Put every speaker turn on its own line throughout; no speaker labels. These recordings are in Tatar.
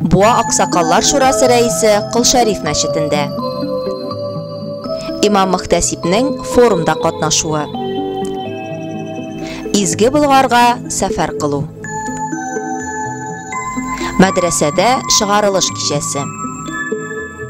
Буа аксакаллар шурасы рәисе Кол Шәриф мәчетендә. Имам-мөхтәсибнең форумда катнашуы. Изге Болгарга сәфәр кылу. Мәдрәсәдә чыгарылыш кичәсе.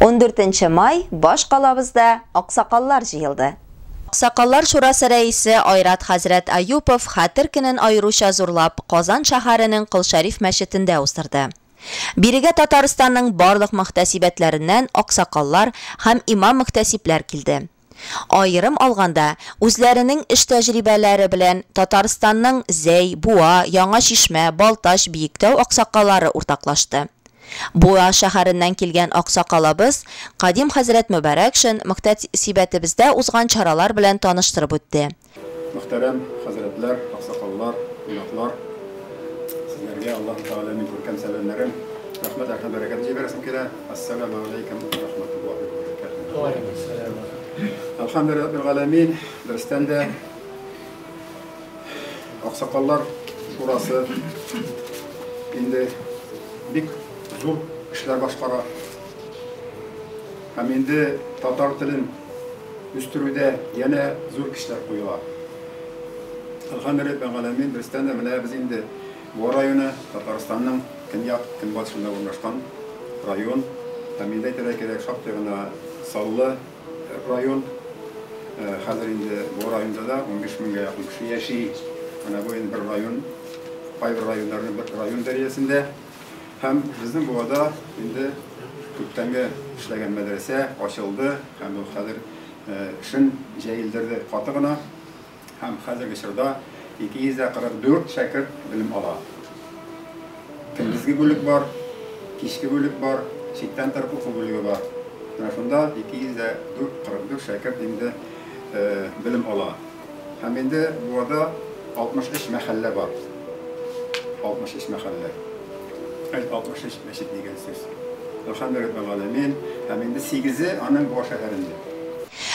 14 май баш калабызда аксакаллар җыелды. Аксакаллар шурасы рәисе Айрат хәзрәт Аюпов Хәтер көнен аеруча зурлап Казан шәһәренең Кол Шәриф мәчетендә уздырды. Бирегә Татарстанның барлык мөхтәсибәтләреннән аксакаллар һәм имам-мөхтәсибләр килде. Аерым алганда, үзләренең эш тәҗрибәләре белән Татарстанның Зәй, Буа, Яңа Чишмә, Балтач, Биектау аксакалары уртаклашты. Буа шәһәреннән килгән аксакалыбыз Кадим хәзрәт Мөбарәкшин мөхтәсибәтебездә узган чаралар белән таныштырып үтте, Мөхтәрәм
хәзрәтләр, аксакаллар, кунаклар! Сезләргә Аллаһу Тәгаләнең күркәм сәламнәрен, рәхмәт һәм бәрәкәтен җибәрәсем килә. Әссәламү алейкүм уә рахматуллаһи уә бәрәкәтүһү! Уә алейкүм сәлам уә рахматуллаһи! Әлхәмдүлилләһи раббил галәмин! Берестән дә Аксакаллар шурасы инде бик зур эшләр башкара. Һәм инде татар телен үстерүдә янә зур кешеләр куела. Әлхәмдүлилләһи галәмин, берстән дә менә без инде Буа районы, Татарстанның көньяк, көнбатышында урнашкан район. Һәм инде әйтергә кирәк, шактый гына саллы район. Хәзер инде Буа районында да унбиш меңгә якын кеше яши. Менә бу инде бер район, кайбер районнарның бер район дәрәҗәсендә. Һәм безнең буада инде күптәнге эшләгән мәдрәсә ачылды һәм ул хәзер эшен җәелдерде каты гына. Һәм хәзерге чорда 244 шәкерт белем ала. Көндезге бүлек бар, кичке бүлек бар, читтән торып уку бүлеге бар. Менә шунда 244 шәкерт инде белем ала. Һәм инде Буада 63 мәхәллә бар. 63 мәхәллә. Әй, 63 мәчет дигән сүз. Әлхәмдүлилләһи-раббил-галәмин. Һәм инде сигезе аның Буа шәһәрендә.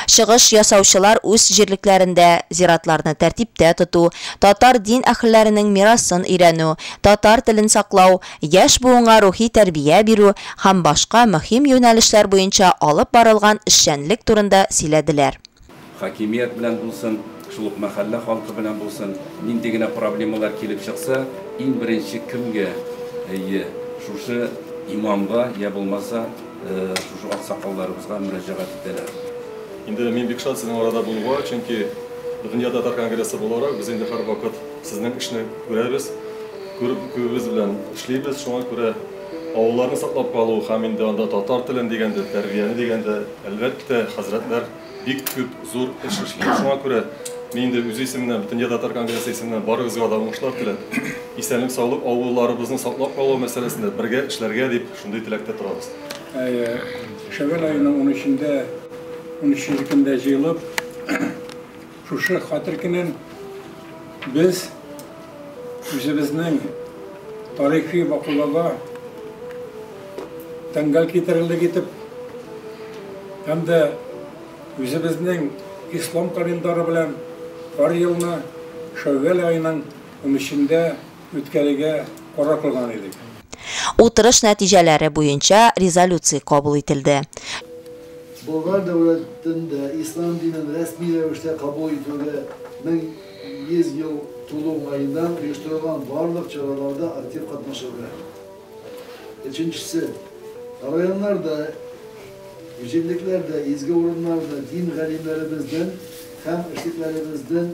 Чыгыш
ясаучылар үз җирлекләрендә зиратларны тәртиптә тоту, татар дин әһелләренең мирасын өйрәнү, татар телен саклау, яшь буынга рухи тәрбия бирү һәм башка мөһим юнәлешләр буенча алып барылган эшчәнлек турында сөйләделәр. Хакимият
белән булсын, шул ук мәхәллә халкы белән булсын, нинди генә проблемалар килеп чыкса, иң беренче кемгә? Әйе, шушы имамга, йә булмаса, шушы аксакалларыбызга мөрәҗәгать итәләр. Инде мин
бик шат сезнең арада булуга, чөнки Дөнья татар конгрессы буларак, без инде һәрвакыт сезнең эшне күрәбез, күреп, күбебез белән эшлибез, шуңа күрә авылларны саклап калу һәм инде анда татар телен дигәндә, тәрбияне дигәндә, Әлбәттә, хәзрәтләр бик күп зур эш эшлиләр. Шуңа күрә мин инде үз исеменнән, Бөтендөнья татар конгрессы исеменнән барыгызга да уңышлар теләп, исәнлек-саулык, авылларыбызны саклап калу мәсьәләсендә бергә эшләргә дип, шундый теләктә торабыз. Әйе,
Шәвәл аеның унөчендә, унөченче көндә җыелып, Шушы Хәтер көнен без үзебезнең тарихи вакыйгага тәңгәл китерерлек итеп һәм дә үзебезнең ислам календаре белән һәр елны Шәүвәл аеның унөчендә үткәрергә карар кылган идек. Утырыш
нәтиҗәләре буенча резолюция кабул ителде.
Болгар дәүләтендә ислам динен рәсми рәвештә кабул итүгә 1100 ел тулу уңаеннан оештырылган барлык чараларда актив катнашырга һәм, өченчесе, районнарда, җирлекләрдә, изге урыннарда дин галимнәребезнең һәм эшлеклеләребезнең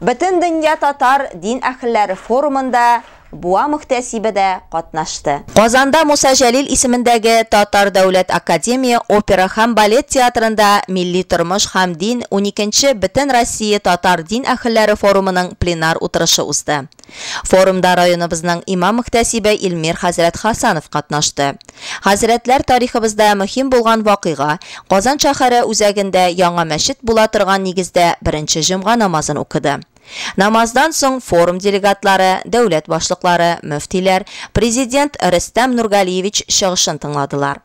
Бөтендөнья татар дин әхелләре форумында Буа мөхтәсибе дә катнашты. Казанда Муса Җәлил исемендәге Татар дәүләт академия опера һәм балет театрында Милли тормыш һәм дин уникенче Бөтенроссия татар дин әхелләре форумының пленар утырышы узды. Форумда районыбызның имам-мөхтәсибе Илмир хәзрәт Хасанов катнашты. Хәзрәтләр тарихыбызда мөһим булган вакыйга, Казан шәһәре үзәгендә яңа мәчет була торган нигездә беренче җомга намазын укыды. Намаздан соң форум делегатлары, дәүләт башлыклары, мөфтиләр, Президент Рөстәм Нургалиевич чыгышын тыңладылар.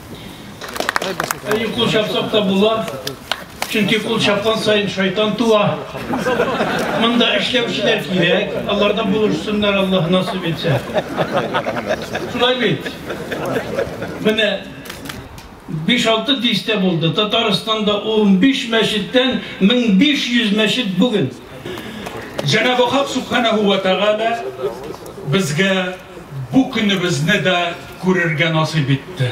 Әйе,
кул чапсак та була. Чөнки кул чапкан сайын шайтан туа. Монда эшләүчеләр кирәк. Алардан булышсыннар, Аллаһ насыйп итсә. Шулай бит. Менә 5-6 дистә булды. Татарстанда 15 мәчеттән 1500 мәчет бүген. Җәнабы Хак Субханәһу ва Тәгалә безгә Бу көнебезне дә күрергә насыйп итте.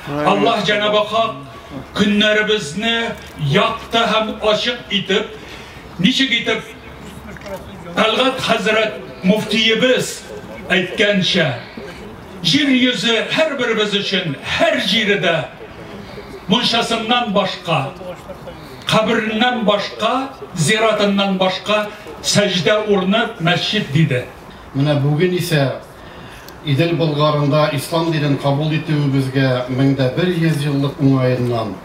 Аллаһ Җәнабы Хак көннәребезне якты һәм ачык итеп, ничек итеп Тәлгать хәзрәт муфтиебез әйткәнчә, җир йөзе һәрберебез өчен һәр җире дә мунчасыннан башка, кабереннән башка, зиратыннан башка сәҗдә урыны мәсҗид диде. Менә бүген
исә Идел Болгарында ислам динен кабул итүебезгә мең дә бер йөз еллык уңаеннан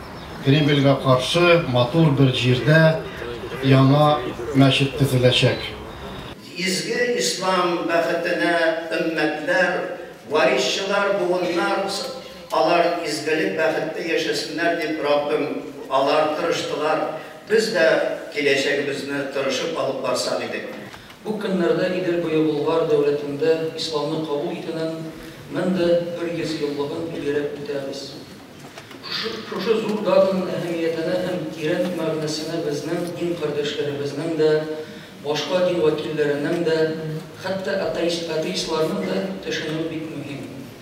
Кремльгә каршы матур бер җирдә яңа мәчет төзеләчәк. Изге
ислам бәхетенә өммәтләр, варисчылар, буыннар, алар изгелек бәхеттә яшәсеннәр дип Раббым, алар тырыштылар, без дә киләчәгебезне тырышып алып барсак идек. Бу көннәрдә
Идел буе Болгар дәүләтендә исламны кабул итүнең 1100 еллыгын билгеләп үтәбез. Шушы зур датаның әһәмиятенә һәм тирән мәгънәсенә безнең дин кардәшләребезнең дә, башка дин вәкилләренең дә, хәтта атеистларның да төшенүе бик мөһим.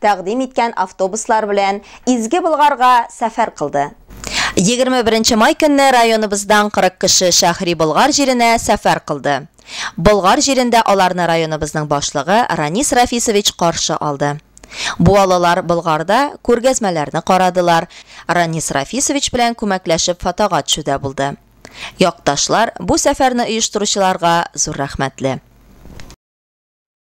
тәкъдим иткән автобуслар белән Изге Болгарга сәфәр кылды. Егерме беренче май көнне районыбыздан 40 кеше Шәһри Болгар җиренә сәфәр кылды. Болгар җирендә аларны районыбызның башлыгы Ранис Рафисович каршы алды. Буалылар Болгарда күргәзмәләрне карадылар, Ранис Рафисович белән күмәкләшеп фотога төшүдә булды. Якташлар, бу сәфәрне оештыручыларга зур рәхмәтле.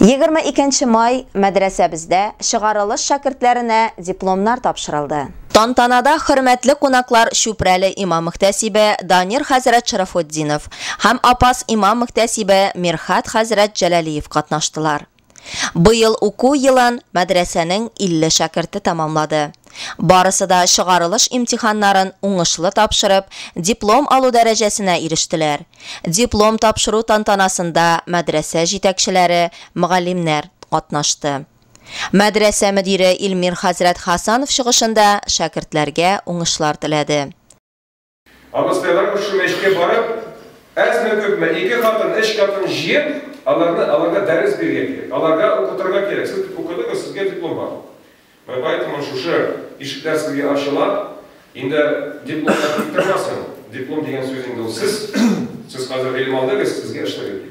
22 нче май мәдрәсәбездә чыгарылыш шәкертләренә дипломнар тапшырылды. Тантанада хөрмәтле кунаклар Чүпрәле имам-мөхтәсибе Данир хәзрәт Шәрәфетдинов һәм Апас имам-мөхтәсибе Мирхәт хәзрәт Җәләлиев катнаштылар. Быел уку елын мәдрәсәнең 50 шәкерте тәмамлады. Барысы да чыгарылыш имтиханнарын уңышлы тапшырып, диплом алу дәрәҗәсенә ирештеләр. Диплом тапшыру тантанасында мәдрәсә җитәкчеләре, мөгаллимнәр катнашты. Мәдрәсә мөдире Илмир хәзрәт Хәсанов чыгышында шәкертләргә уңышлар теләде.
Абыстайлар күрше мәчеткә барып, әзме-күпме, ике катын, өч катын җыеп, аларны, аларга дәрес бирергә кирәк, аларга укытырга кирәк. Сез бит укыдыгыз, сезгә диплом бар. Менә поэтому шушы ишекләр сезгә ачыла. Инде дипломнар тик тормасын. Диплом дигән сүз инде ул сез. Сез хәзер гыйлем алдыгыз, сезгә эшләргә кирәк.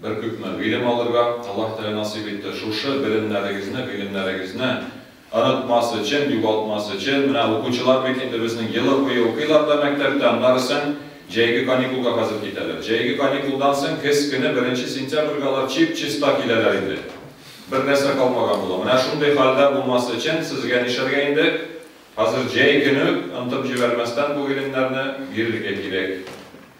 Бер күпме гыйлем алырга Аллаһ Тәгалә насыйп итте. Шушы белемнәрегезне, гыйлемнәрегезне онытмас өчен, югалтмас өчен, менә укучылар бит инде безнең елы буе укыйлар да мәктәптә, аннары соң җәйге каникулга хәзер китәләр. Җәйге каникулдан соң көз көне беренче сентябрьгә алар чип-чиста киләләр инде. Бер нәрсә калмаган була. Менә шундый хәлдә булмас өчен сезгә нишләргә инде? Хәзер җәй көне үк, онытып җибәрмәстән бу гыйлемнәрне бирергә кирәк.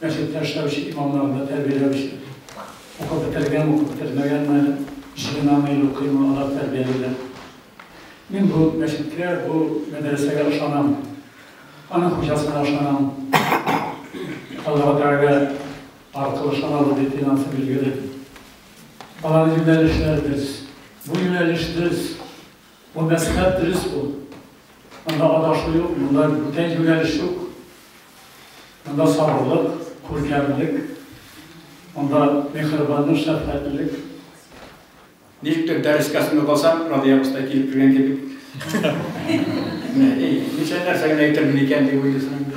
мәчеттә
эшләүче имамнарны тәрбияләүче, укып бетергәнме, укып бетермәгәнме, җыенамы или укыймы, алар тәрбиялиләр. Мин бу мәчеткә, бу мәдрәсәгә ышанам. Аның хуҗасына ышанам. Аллаһу Тәгалә аркылы ышаналар дип инансым билгеле. Алар юнәлешләр без. Бу юнәлеш без. Бу мәслихәт дөрес бу. Монда адашу юк, монда бүтән юнәлеш юк. Монда сабырлык, күркәмлек, монда миһербанлык, шәфкатьлелек.
Ничектер дәрескә сынып алсак, Радия абыстай килеп кергән кебек. Ничә нәрсә генә әйтермен икән дип уйлыйсың инде.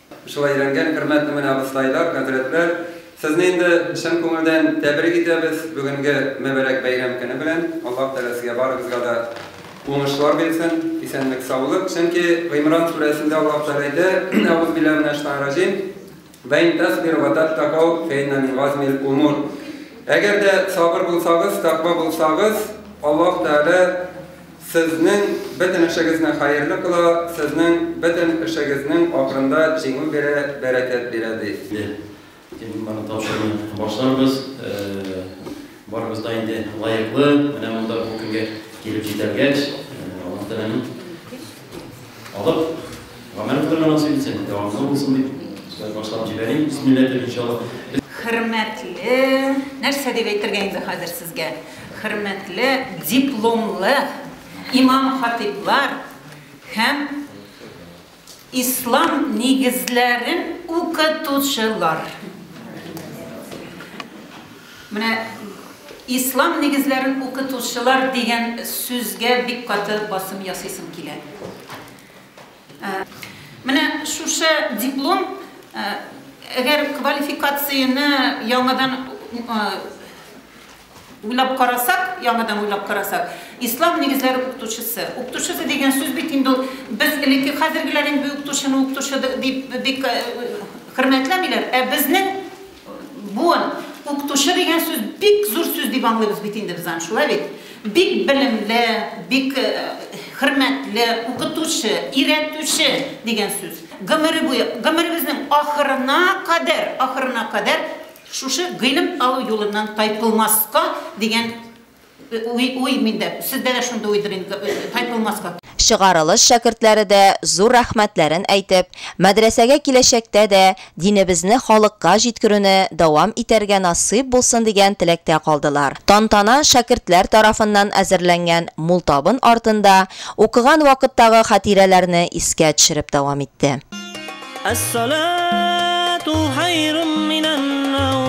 Шулай
өйрәнгән, хөрмәтле менә абыстайлар, хәзрәтләр, сезне инде чын күңелдән тәбрик итәбез бүгенге мөбарәк бәйрәм көне белән. Аллаһ Тәгалә сезгә барыгызга да уңышлар бирсен, исәнлек, саулык. Чөнки Гыймран сүрәсендә Аллаһ Тәгалә әйтә, Әгузубилла минә шайтан раҗим, Вә ин тәсбирү вә тәттәкау фә иннә мин газмил умур. Әгәр дә сабыр булсагыз, тәкъва булсагыз, Аллаһ Тәгалә, Сезнең бөтен эшегезне хәерле кыла, сезнең бөтен эшегезнең ахырында җиңү бирә, бәрәкәт бирә, ди. Инде теманы
тапшыруны башларбыз. Барыбыз да инде лаеклы, менә монда бу көнгә килеп җитәлгәч, Аллаһ Тәгаләнең алып. Гамәл кылырга насыйп итсен, дәвамлы булсын дип, сүз башлап җибәрим, бисмилла әйтеп, иншалла. Хөрмәтле,
нәрсә дип әйтергә инде хәзер сезгә, хөрмәтле дипломлы имам-хатыйблар һәм ислам нигезләрен укытучылар! Менә ислам нигезләрен укытучылар дигән сүзгә бик каты басым ясыйсым килә. Менә шушы диплом, әгәр квалификацияне яңадан уйлап карасак, яңадан уйлап карасак, ислам нигезләре укытучысы. Укытучысы дигән сүз бит инде ул без элекке хәзергеләр инде укытучыны укытучы дип бик хөрмәтләмиләр, ә безнең Буын, укытучы дигән сүз бик зур сүз дип аңлыйбыз бит инде без аны, шулай бит? Бик белемле, бик э, хөрмәтле укытучы, өйрәтүче дигән сүз. Гомере буе, гомеребезнең ахырына кадәр, ахырына кадәр шушы гыйлем алу юлыннан тайпылмаска дигән Уй-уй, мин дә, сездә дә шундый уйдыр инде, тайпылмаска. Чыгарылыш
шәкертләре дә зур рәхмәтләрен әйтеп, мәдрәсәгә киләчәктә дә динебезне халыкка җиткерүне дәвам итәргә насыйп булсын дигән теләктә калдылар. Тантана шәкертләр тарафыннан әзерләнгән мул табын артында укыган вакыттагы хатирәләрне искә төшереп дәвам итте. Әс-салату
хәйрун минән-наум.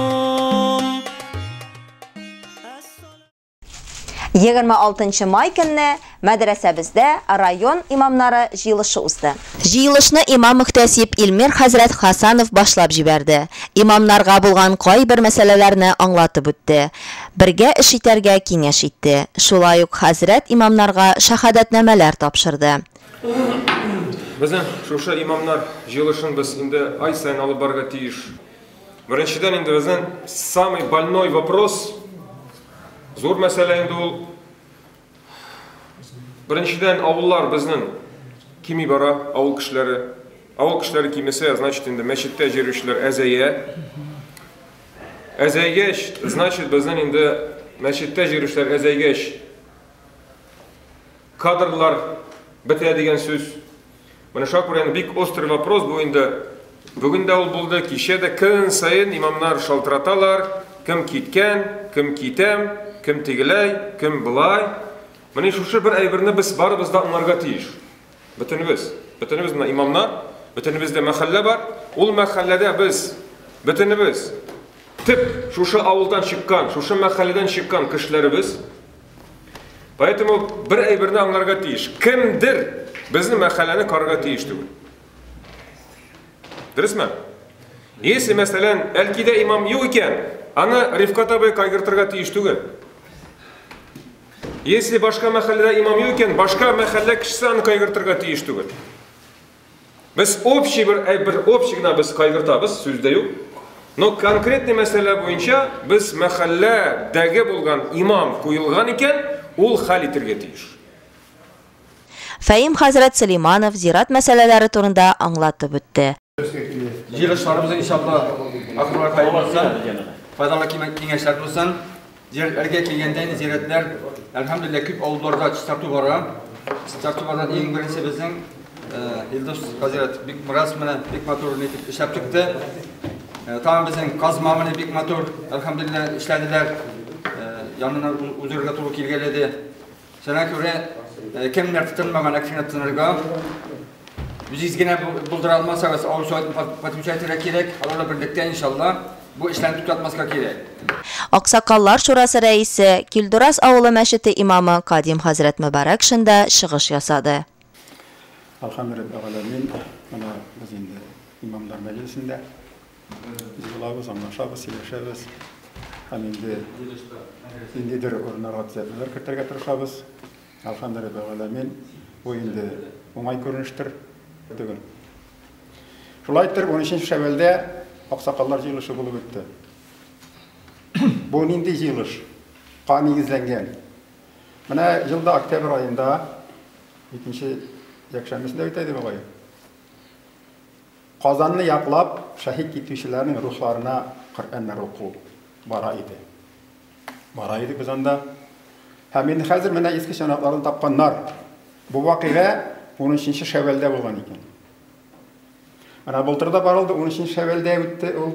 26 нчы май көнне мәдрәсәбездә район имамнары җыелышы узды. Җыелышны имам-мөхтәсиб Илмир хәзрәт Хасанов башлап җибәрде. Имамнарга булган кайбер мәсьәләләрне аңлатып үтте, бергә эш итәргә киңәш итте. Шулай ук хәзрәт имамнарга шәһадәтнамәләр тапшырды.
Безнең шушы имамнар җыелышын без инде ай саен алып барырга тиеш. Беренчедән инде безнең самый больной вопрос, зур мәсьәлә инде ул. Беренчедән авыллар безнең кими бара, авыл кешеләре. Авыл кешеләре кимесә, значит инде мәчеттә җөрүчеләр әзәя. Әзәйгәч, значит безнең инде мәчеттә җөрүчеләр әзәйгәч кадрлар бетә дигән сүз. Менә шуңа күрә инде бик острый вопрос бу инде. Бүген дә ул булды, кичә дә көн саен имамнар шалтыраталар, кем киткән, кем китәм, кем тегеләй, кем былай. Менә шушы бер әйберне без барыбыз да аңларга тиеш. Бөтенебез, бөтенебез менә имамнар, бөтенебездә мәхәллә бар. Ул мәхәлләдә без бөтенебез тик шушы авылдан чыккан, шушы мәхәлләдән чыккан кешеләребез. Поэтому бер әйберне аңларга тиеш. Кемдер безнең мәхәлләне карарга тиеш түгел. Дөресме? Если, мәсәлән, әлкидә имам юк икән, аны Рифкат абый кайгыртырга тиеш түгел. Если башка мәхәлләдә имам юк икән, башка мәхәллә кешесе аны кайгыртырга тиеш түгел. Без общий бер бер общий гына без кайгыртабыз, сүз дә юк. Но конкретный мәсьәлә буенча без мәхәлләдәге булган имам куелган икән, ул хәл итергә тиеш.
Фәим хәзрәт Сөләйманов зират мәсьәләләре турында аңлатып үтте. Җыелышларыбыз
иншалла ахырларга килеп җитсен. Файдалы киңәшләр булсын. Зиярәтләргә килгәндә инде зиярәтләр, әлхәмдүлилләһ, күп авылларда чистарту бара. Чистартулардан иң беренче безнең Илдус хәзрәт бик бераз менә бик матур итеп эшләп чыкты. Тагын безнең казма менә бик матур, әлхәмдүлилләһ, эшләделәр. Янына узырга туры килгәләде. Шуңа күрә кемнәр тотынмаган әкшенә тотынырга, үзегез генә булдыра алмасагыз, авыл советын подключать итәргә кирәк, алар да берлектә, иншалла, бу эшләрне туктатмаска кирәк. Аксакаллар
шурасы рәисе, Килдураз авылы мәчете имамы Кадим хәзрәт Мөбарәкшин да чыгыш ясады.
Алхамду раббил галәмин. Менә без инде имамнар мәҗлесендә. Без булабыз, аңлашабыз, сөйләшәбез. Һәм инде ниндидер урыннарга төзәтүләр кертергә тырышабыз. Алхамду раббил галәмин. Бу инде уңай күренештер түгел. Шулай итеп, 13 Шәвәлдә аксакаллар җыелышы булып үтте. Бу нинди җыелыш? Ка нигезләнгән. Менә ел да октябрь аенда, икенче якшәмбесендә үтә иде бугай. Казанны яклап шәһит китүчеләрнең рухларына Коръәннәр уку бара иде. Бара иде без анда. Һәм инде хәзер менә иске чанакларын тапканнар. Бу вакыйга 13 Шәвәлдә булган икән. Менә былтыр да барылды, 13 Шәвәлдә үтте ул.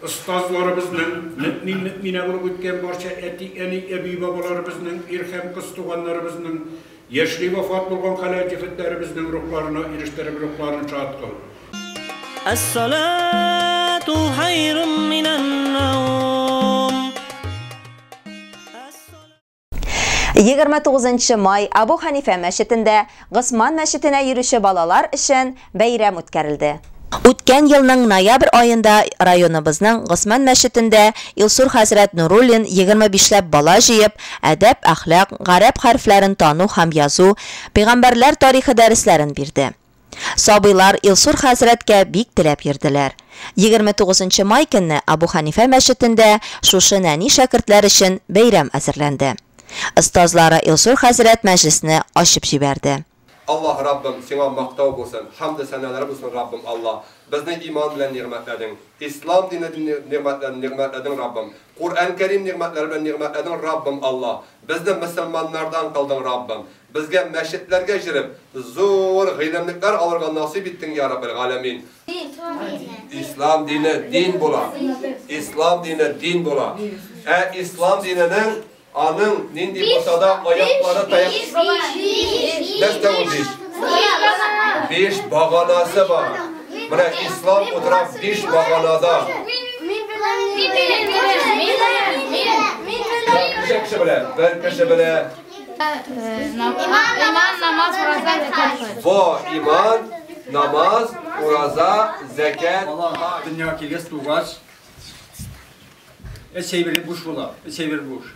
Остазларыбызның, мөэмин-мөэминә булып үткән барча әти-әни, әби-бабаларыбызның, ир һәм кыз туганнарыбызның, яшьли вафат булган хәләл җефетләребезнең рухларына ирештереп, рухларын шат кыл. Әс-салату
хайрум минән-наум.
29 нчы май Абу Ханифә мәчетендә Госман мәчетенә йөрүче балалар өчен бәйрәм үткәрелде. Үткән елның ноябрь аенда районыбызның Госман мәчетендә Илсур хәзрәт Нуруллин 25 ләп бала җыеп, әдәп, әхлак, гарәп хәрефләрен тану һәм язу, пәйгамбәрләр тарихы дәресләрен бирде. Сабыйлар Илсур хәзрәткә бик теләп йөрделәр. Егерме тугызынчы май көнне Абу Хәнифә мәчетендә шушы нәни шәкертләр өчен бәйрәм әзерләнде. Остазлары Илсур хәзрәт мәҗлесне ачып җибәрде. Аллаһ, Раббым,
Сиңа мактау булсын, хәмде-сәналар булсын, Раббым, Аллаһ, безне иман белән нигъмәтләдең, Ислам дине белән нигъмәтләдең, нигъмәтләдең, Раббым, Куръән Кәрим нигъмәтләре белән нигъмәтләдең, Раббым, Аллаһ, безне мөселманнардан кылдың, Раббым, Безгә мәчетләргә җөреп, зур гыйлемлекләр алырга насыйп иттең, йа Раббел галәмин. Ислам дине дин була. Ислам дине дин була. Ә ислам диненең аның нинди булса да аяклары таяк. Нәрсә ул биш? Биш баганасы бар. Менә ислам утыра биш баганада. Бер кеше белә, бер кеше белә. Иман,
намаз, ураза, зәкәт, хаҗ. Бо, иман,
намаз, ураза, зәкәт, хаҗ. Бала дөньяга килгәч,
тугач, өч әйбере буш була, өч әйбер буш.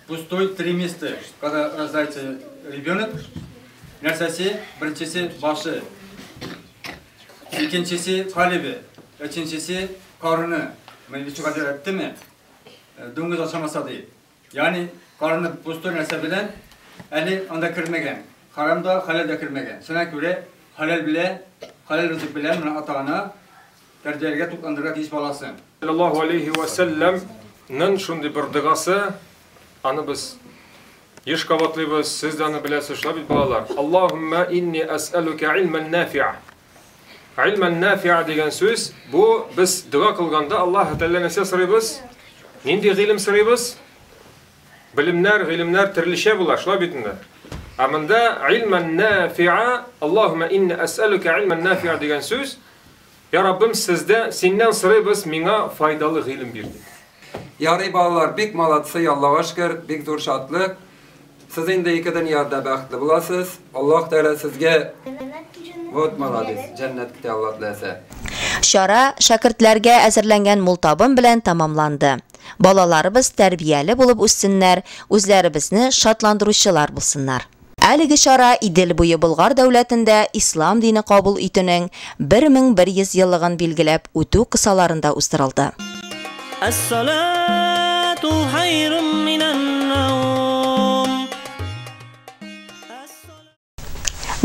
Пустой три места, когда рождается ребенок, нәрсәсе, беренчесе башы, икенчесе калебе, өченчесе карыны. Менә ничек әйттеме? Дуңгыз ашамаса ди. Ягъни карыны пустой нәрсә белән әле анда кермәгән. Харам да, хәләл дә кермәгән. Шуңа күрә хәләл белә, хәләл ризык белән менә ата-ана тәрбияләргә тукландырырга тиеш баласын. Саллаллаһу алейһи вә
сәлләм нен шундый бер догасы, аны без еш кабатлыйбыз, сез дә аны беләсез, шулай бит балалар? Аллаһуммә инни әсәлүкә илмән нәфиа. Ильман нафиа дигән сүз, бу без дога кылганда Аллаһ Тәгалә нәрсә сорыйбыз? Нинди гыйлем сорыйбыз? Билемнәр, гыйлемнәр төрлечә була, шулай бит инде. Ә монда ильман нафиа, Аллаһума инна ас'алука ильман нафиа дигән сүз, Я Раббым, сездә синнән сорыйбыз, миңа файдалы гыйлем бир дип. Ярый
балалар, бик молодцы, Аллага шөкер, бик зур шатлык. Сез инде ике дөньяда бәхетле буласыз. Аллаһ Тәгалә сезгә вот молодец, җәннәт көтә Аллаһ теләсә. Чара
шәкертләргә әзерләнгән мул табын белән тәмамланды. Балаларыбыз тәрбияле булып үссеннәр, үзләребезне шатландыручылар булсыннар. Әлеге чара Идел буе Болгар дәүләтендә ислам дине кабул итүнең 1100 еллыгын билгеләп үтү кысаларында уздырылды. Әссалату
хайрум минән наум.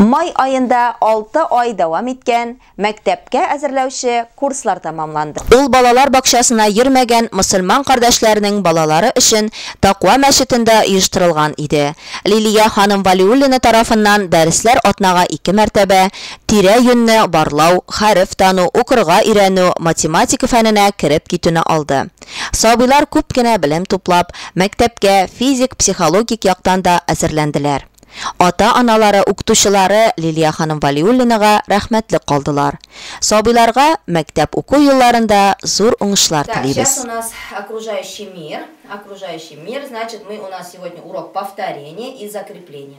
Май аенда 6 ай дәвам иткән мәктәпкә әзерләүче курслар тәмамланды. Ул балалар бакчасына йөрмәгән мөселман кардәшләренең балалары өчен Таква мәчетендә оештырылган иде. Лилия ханым Вәлиуллина тарафыннан дәресләр атнага ике мәртәбә, тирә-юньне барлау, хәреф тану, укырга өйрәнү, математика фәненә кереп китүне алды. Сабыйлар күп кенә белем туплап, мәктәпкә физик, психологик яктан да әзерләнделәр. Ата-аналары, укытучылары Лилия ханым Вәлиуллинага рәхмәтле калдылар. Сабыйларга мәктәп уку елларында зур уңышлар Так, сейчас телибез. у нас
окружающий мир, окружающий мир, значит мы у нас сегодня урок повторение и закрепление.